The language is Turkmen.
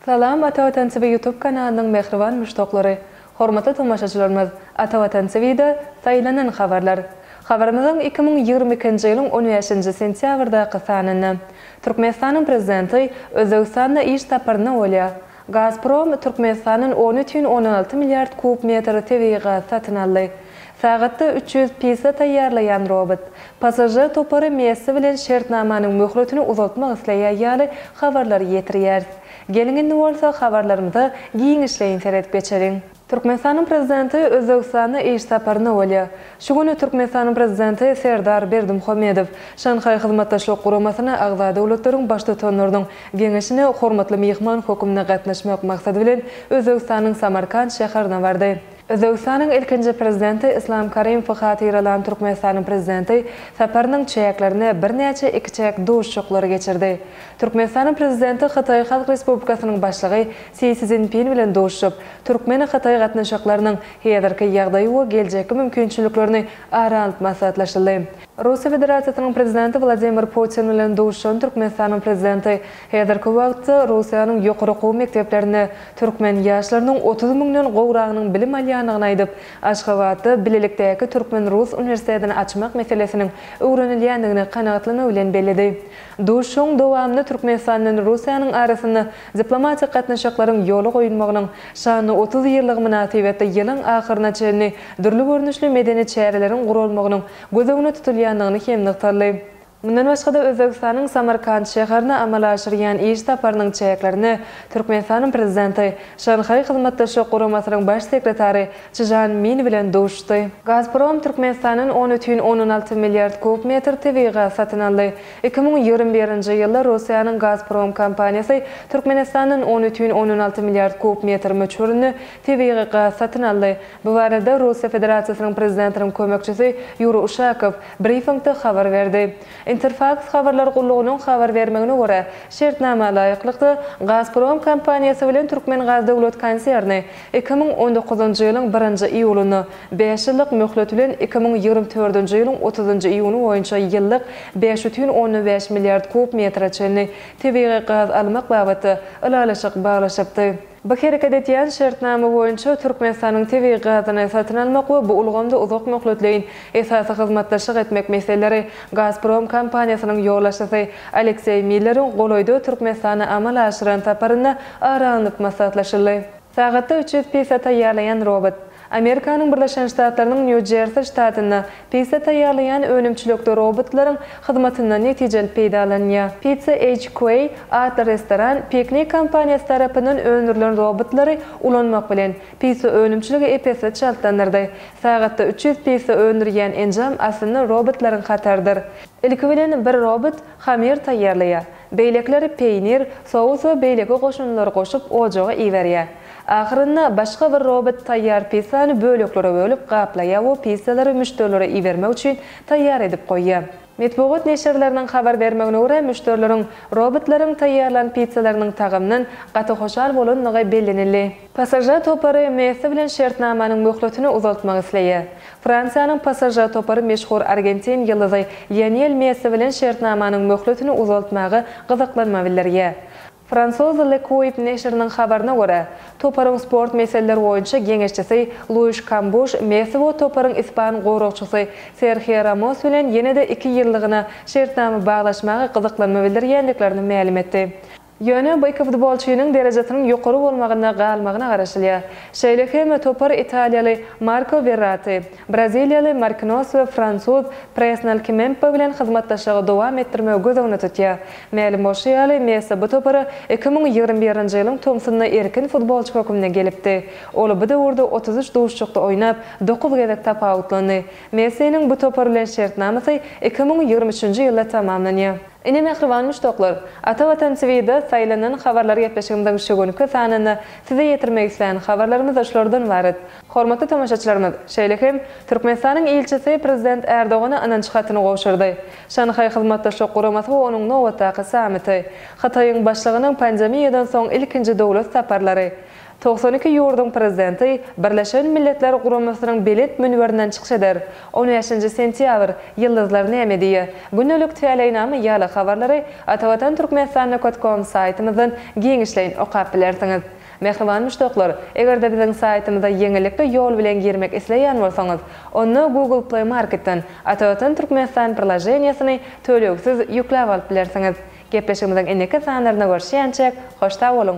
Salam Ata Watan TV YouTube kanalynyň mähriban muşdaklary! Hormatly tomaşaçylarymyz, Ata Watan TV'de Saýlanan habarlar. Habarymyzyň iki müň ýigrimi ikinji ýylyň on bäşinji sentýabrdaky sanynda Türkmenistanyň Prezidenti Özbegistanda iş saparynda bolýar. Gazprom Türkmenistandan on üçin on alty milliard kub metr tebigy gaz satyn aldy. Sagatda üç ýüz pizza taýýarlaýan robot. PSŽ topary Messi bilen şertnamanyň möhletini uzaltmak isleýär ýaly habarlary ýetirýäris. Geliň indi bolsa habarlarymyza giňişleýin seredip geçeliň. Türkmenistanyň Prezidenti Özbegistana iş saparyna bolýar. Şu gün Türkmenistanyň Prezidenti Serdar Berdimuhamedow Şanhaý Hyzmatdaşlyk Guramasyna agza döwletleriň Baştutanlarynyň geňeşine hormatly myhman hökmünde gatnaşmak maksady bilen Özbegistanyň Samarkant şäherine bardy. Özbegistanyň ilkinji Prezidenti Islam Karimowy hatyralan Türkmenistanyň Prezidenti saparynyň çäklerinde birnäçe ikiçäk duşuşyklary geçirdi. Türkmenistanyň Prezidenti Hytaý Halk Respublikasynyň Başlygy Si Szinpin bilen duşuşyp, türkmen-hytaý gatnaşyklarynyň häzirki ýagdaýy we geljekki mümkinçiliklerini ara alyp maslahatlaşyldy. Russiýa Federasiýasynyň Prezidenti Wladimir Putin bilen duşuşan Türkmenistanyň Prezidenti häzirki wagtda Russiýanyň ýokary okuw mekdeplerinde türkmen ýaşlarynyň otuz müňden gowragynyň bilim alýandygyny aýdyp, Aşgabatda bilelikdäki türkmen-rus uniwersitetini açmak meselesiniň öwrenilýändigini kanagatlanma bilen belledi. Duşuşygyň dowamynda Türkmenistan bilen Russiýanyň arasynda Diplomatik gatnaşyklaryň ýola goýulmagynyň şanly otuz ýyllygy mynasybetli ýylyň ahyryna çenli dürli görnüşli medeni çäreleriň guralmagynyň göz öňünde tutulýandygyny hem nygtaldy. Mundan başga-da Özbegistanyň Samarkant şäherine amala aşyrýan iş saparynyň çäklerinde Türkmenistanyň Prezidenti Şanhaý Hyzmatdaşlyk Guramasynyň Baş sekretary Çžan Min bilen duşuşdy. Gazprom Türkmenistandan on otyn ondan alty milliard kub metr tebigy gaz satyn aldy. Iki müň ýigrimi birinji ýylda Russiýanyň Gazprom kompaniýasy Türkmenistandan on ütün ondan alty milliard kub metr möçberinde tebigy gaz satyn aldy. Bu barada Russiýa Federasiýasynyň Prezidentiniň kömekçisi Ýuriý Uşakow brifingde habar berdi. Interfaks habarlar gullugynyň habar bermegine görä, şertnama laýyklykda, Gazprom kompaniýasy bilen Türkmengaz döwlet konserni, Iki müň on dokuzynjy ýylyň birinji iýulynda bäş ýyllyk möhlet bilen iki müň ýigrimi dördünji ýylyň otuzynjy iýuny boýunça ýyllyk bäş bütin ondan bäş milliard kub metre çenli tebigy gaz almak babatda ylalaşyk baglaşypdy. Bu hereket edýän şertnama boýunça Türkmenistanyň tebigy gazyny satyn almak we bu ulgamda uzak möhletleýin esasy hyzmatdaşlyk etmek meseleleri Gazprom kompaniýasynyň ýolbaşçysy Alekseý Milleriň golaýda Türkmenistana amala aşyran saparynda Aranlyk maslahatlaşyldy. Sagatda üç ýüz pizza taýýarlaýan robot. Amerikanyň Birleşen Ştatlarynyň Nýu-Jersi ştatynda pizza taýýarlaýan önümçilikde robotlaryň hyzmatyndan netijeli peýdalanylýar. Pizza HQ atly restoran Picnic kompaniýasy tarapyndan öndürilen robotlary ulanmak bilen, pizza önümçiligi ep-esli çaltlandyrdy. Sagatda üç ýüz pizza öndürýän enjam aslynda robotlaryň hatarydyr. Ilki bilen bir robot hamir taýýarlaýar. Beýlekileri peýnir, sous we beýleki goşundylary goşup ojaga iberýär. Ahyrynda başga bir robot taýýar pissany böleklere bölüp gaplaýar we pissalary müşderilere ibermek üçin taýýar edip goýýar. Metbugat neşirleriniň habar bermegine görä, müşderileriň robotlaryň taýýarlan pissalarynyň tagamyndan gaty hoşal bolandygy bellenildi. PSG topary Messi bilen şertnamanyň möhletini uzaltmak isleýär. Fransiýanyň PSG topary meşhur argentin ýyldyzy Lionel Messi bilen şertnamanyň möhletini uzaltmaga gyzyklanma bildirýär. Fransuz L'Equipe neşiriniň habaryna görä, toparyň sport meseleler boýunça geňeşçisi Luiş Kambuş Messi we toparyň ispan goragçysy Serhio Ramos bilen ýene-de iki ýyllygyna şertnama baglaşmaga gyzyklanma bildirýändiklerini mälim etdi. Ýöne bykfutbolçynyň derejesiniň ýokary bolmagynda galmagyna garaşylýar. Şeýle hem topar italiýaly Marko Werrati, braziliýaly Markinoz we fransuz Presnel Kimempe bilen hyzmatdaşlygy dowam etdirmegi göz öňünde tutýar. Mälim bolşy ýaly, Messi bu topara iki müň ýigrimi birinji ýylyň tomsunda erkin futbolçy hökmünde gelipdi. Ol bu döwürde otuz üç duşuşykda oýnap, dokuz gezek tapawutlandy. Messiniň bu topar bilen şertnamasy iki müň ýigrimi üçünji ýylda tamamlanýar. Ine mähriban muşdaklar, Ata Watan TV-de saýlanan habarlar gepleşigimiziň şu günki sanynda size ýetirmek islän habarlarymyz-da şulardan ybarat. Hormatly tomaşaçylarymyz, şeýle hem Türkmenistanyň ilçisi Prezident Erdogana ynanç hatyny gowşurdy. Şanhaý Hyzmatdaşlyk Guramasy we onuň nobatdaky sammiti, Hytaýyň Başlygynyň pandemiýadan soň ilkinji döwlet saparlary, Togsan iki ýurduň prezidenti Birleşen Milletler Guramasynyň belent münberinden çykyş eder. On bäşinji sentýabr, Ýyldyzlar näme diýýä? Gündelik täleýnama ýaly habarlary Atavatan Türkmenistanda kot kom saýtymyzdan giňişleýin okap bilersiňiz. Mähriban muşdaklar, eger-de biziň saýtymyza ýeňillikli ýol bilen girmek isleýän bolsaňyz, onda Google Play Marketden Atavatan Türkmenistan priloženiýesini tölegsiz ýükläp alyp bilersiňiz. Gepleşigimiziň indiki sanlarynda görşýänçäk, hoş sag boluň!